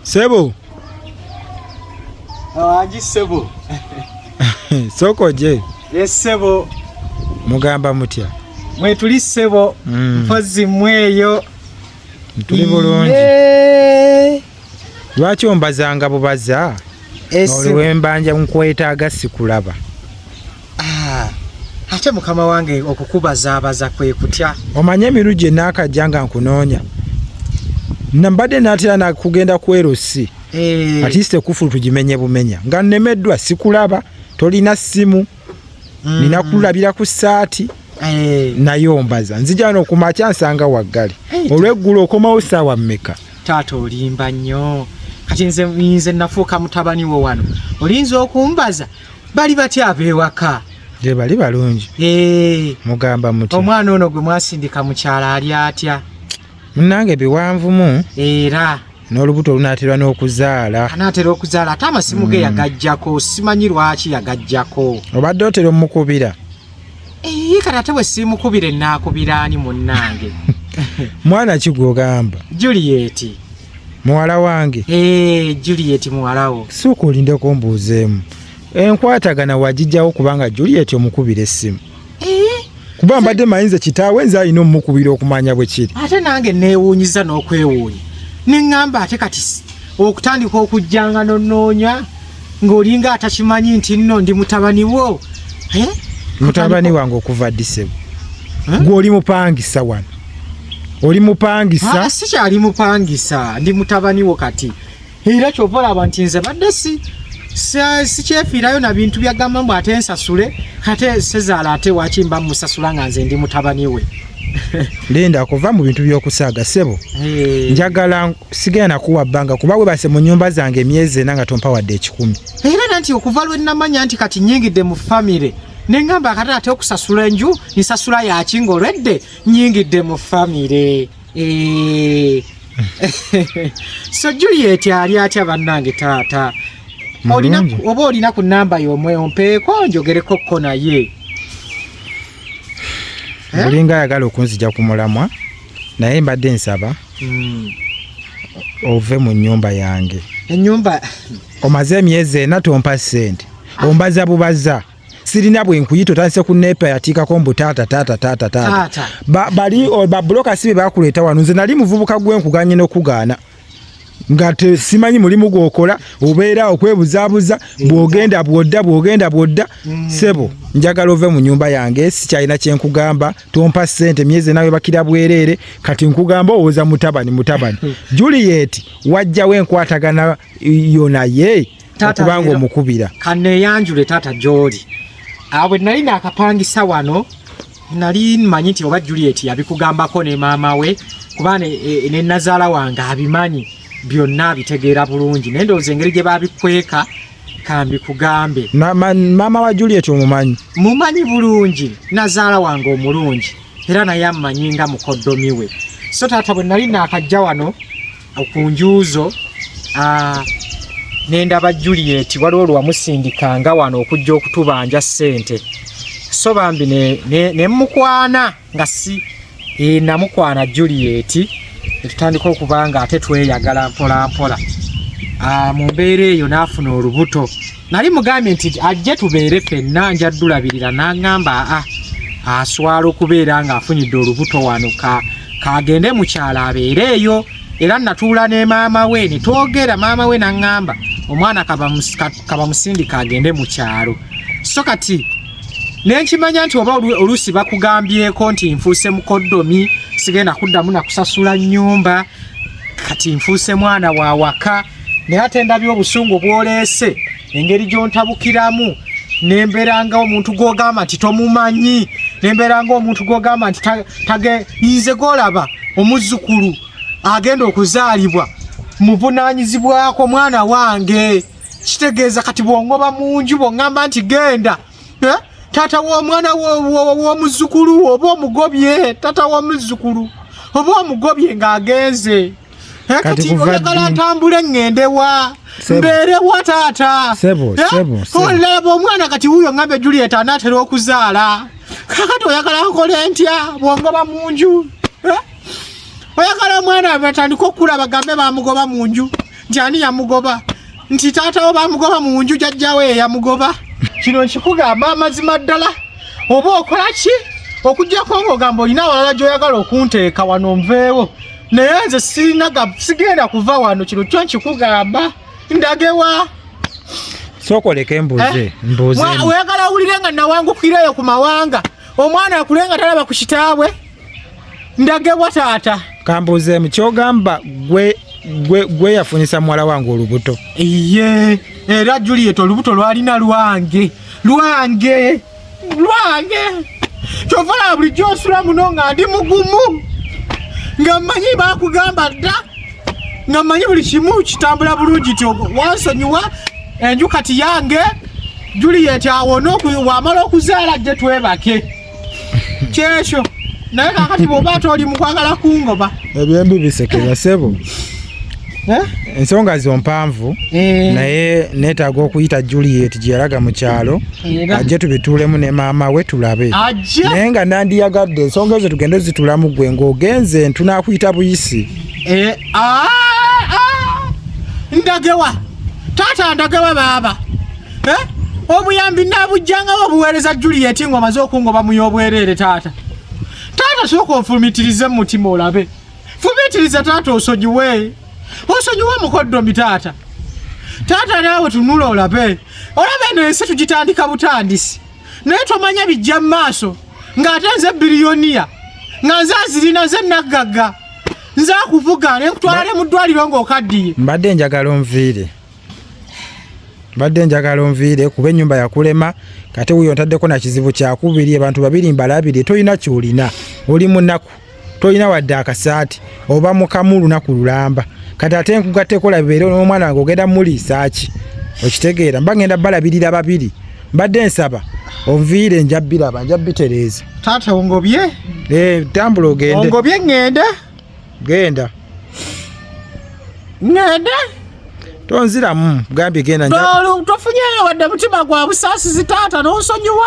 Sebo. Awaji ah, sebo. Soko je. Yes sebo. Mugamba mutya. Mwe tuli sebo. Mm. Mpozi mweyo. Tuli bulungi. Yeah. lwaki ombazanga bubaza oliwembanja eh, nkwetaaga sikulaba ah, ate mukama wange okukubazaabaza kwe kutya omanye emiru gye naakajja nga nkunoonya nambadde naatera nakugenda ku erosi eh. atiise kufulu tugimenye bumenya nga nnemeddwa sikulaba tolina ssimu mm. nina kulabira ku saati eh. naye ombaza nzija no kumakya nsanga waggale hey, olweggulo okomawo saawa mmeka taata olimba nnyo kati nze nze nafuuka mutabani wo wano olinza okumbaza bali batya abewaka gye bali balungi eh. mugamba muti omwana ono gwe mwasindika mukyala ali atya munange biwanvumu era n'olubuto lunaatera n'okuzaala anaatera okuzaala ate amasimu ge hmm. yagajjako simanyi lwaki yagajjako obadde otera omukubira eye kati ate bwe siimukubira enaakubira ani munnange mwana ki gwogamba julieti muwala wange ee eh, julieti muwalawo suuka olindeko mbuuzeemu enkwatagana wagijjawo kubanga juliet omukubira essimu eh? kuba mbadde mayinza kitaawe nze alina omumukubira okumanya bwe kiri ate nange neewuunyiza n'okwewuunya ne ŋŋamba ate kati okutandika okujjanga nonoonya ng'olinga atakimanyi nti nno ndi mutabani wo eh? mutabani wange okuva ddisebo eh? gwe oli mupangisa wano oli mupangisa ah, sikyali mupangisa ndi mutabani wo kati era kyova olaba nti nze badde si sikyefiirayo na bintu byagamba mbu ate nsasule ate sezaala ate waki mba musasula nga nze ndi mutabani we linda kuva mu bintu byokusaaga sebo eh. njagala sigenda nakuwa bbanga kuba webase mu nyumba zange emyezi ena nga tompa wadde ekikumi era nanti okuva lwe namanya nti kati nyingidde mu famire nengamba akatala ate okusasula enju nsasula yaki ngaolwedde nyingidde mu famire Eh. so juliet ali atya bannange taata oba olina ku namba yomwewo mpeeko njogereko ko naye eh? olinga ayagala okunzija ku mulamwa naye mbadde nsaba hmm. ove mu nyumba yange enyumba omaze emyezi ena tompa sente ombaza bubaza sirina bwe nkuyita otandise ku nepa yatiikako mbu taata taata taata taata bali babuloka si be bakuleeta wano nze nali muvubuka gwe nkuganye n'okugaana nga simanyi mulimu gwokola obeera okwebuzabuza bwogenda bwodda bwogenda bwodda mm. sebo njagala ove mu nyumba yange sikyalina kyenkugamba tompa sente myezi nawe bakira bwereere kati nkugamba owoza mutabani mutabani juliet wajjawo enkwatagana yo naye okubanga omukubira kaneyanjule taata gyoli awo bwe nali naakapangisa wano nali manyi nti oba juliet yabikugambako ne maama we kuba e, e, ne nazaala wange abimanyi byonna abitegeera bulungi naye ndowooza engeri gye babikweka kambi kugambe maama wa juliet omumanyi mumanyi bulungi nazaala wange omulungi era naye amanyi nga mukoddomi we so taata bwe nali naakajja wano ku njuuzo ah, nendaba Juliet waliwo lwamusindika nga wano okujja okutubanja ssente so bambi nemukwana ne, ne nga si e, namukwana Juliet etutandika okuba nga ate tweyagala mpolampola ah, mu mbeera eyo n'afuna olubuto nali mugambye nti ajje tubeere fenna nja ddulabirira n'aŋŋamba a ah, ah, aswala okubeera ng'afunyidde olubuto wano ka kagende mukyalo abeere eyo era natuula ne maama we ne twogera maama we n'aŋŋamba omwana kabamusindika agende mu kyalo so kati nenkimanya nti oba oluusi bakugambyeko nti nfuuse mukoddomi sigenda kuddamu nakusasula nnyumba kati nfuuse mwana wa waka naye ate ndabye obusungu bwoleese engeri gyontabukiramu nemberangawo omuntu gwogamba nti tomumanyi nemberanga omuntu gwogamba nti tagenze golaba omuzukulu agenda okuzaalibwa muvunanyizibwako mwana wange kitegeeza kati bwongoba munju bwongamba nti genda eh? tata womwana womuzukulu oba omugobye tata womuzukulu oba omugobye ngaagenze Eh, kati oyagala ntambule ŋŋende wa mbeere wa taata eh, olaba omwana kati wuuyo ŋŋambe juliet anaatera okuzaala kakati oyagala nkole ntya bwongoba mu nju eh? oyagala omwana batandika okukula bagambe bamugoba mu nju nti ani yamugoba nti taatawo bamugoba mu nju jajjawe yeyamugoba kino nkikugamba amazima ddala oba okola ki okujjako ng'ogamba olina awalala gy'oyagala okunteeka wano nveewo naye nze sirinaga sigenda kuva wano kino kyo nkikugamba ndagewa sokoleka embuze eh? mbuze oyagala awulire nga nawangukirayo ku mawanga omwana akule nga talaba ku kitaabwe ndagewa taata kambuzeemu kyogamba gwe gwe yafunyisa muwala wange olubuto iye era juliet olubuto lwalina lwange lwange lwange kyovala bulijjo nsula muno nga ndi mugumu nga mmanyi bakugamba dda nga mmanyi buli kimu kitambula bulungi ti wansonyiwa enju kati yange juliyeti awona wamala okuzaala jje twebake kyekyo naye kakati bwoba toli mukwagala kungoba ebyembi bisekera sebo ensonga zo mpanvu eh. naye neetaaga okuyita juliet gye yalaga mu kyalo ajje tubituulemu ne maama we tulabe naye nga nandiyagadde ensonga ezo tugende ozitulamu gwe ng'ogenze ntunakuyita buyisi eh, ah, ah. ndagewa taata ndagewa baaba eh? obuyambi nabujjangawo obuweereza juliet ng'omaze okungoba mu y'obwereere taata taata sooka ofumitirize mu mutima olabe fubitiriza taata osonyiwe osonyiwe omukoddomi taata taata naawe tunula olabe olaba eno ensi tugitandika butandisi naye tomanya bijja mu maaso ng'ate nze biriyoniya nga nze azirina nze naggagga nze akuvuga ne nkutwala ne mu ddwaliro ng'okaddiye mbadde njagala onviire mbadde njagala onviire kuba ennyumba yakulema kate wuyo ntaddeko na kizibu kyakubiri abantu babiri mbalabire tolina kyolina oli munaku tolina wadde akasaati oba mukamu lunaku lulamba kati ate nkugatteko labibeere n'omwana wange ogenda muliisaaki okitegeera mba ngenda balabirira babiri mbadde nsaba onviire nja biraba nja bitereeza taata ongobye ee eh, tambula ogende ongobye ŋŋenda genda ŋŋenda tonziramu gambye genda tofunyeyo wadde mutima gwa busaasizi taata n'onsonyiwa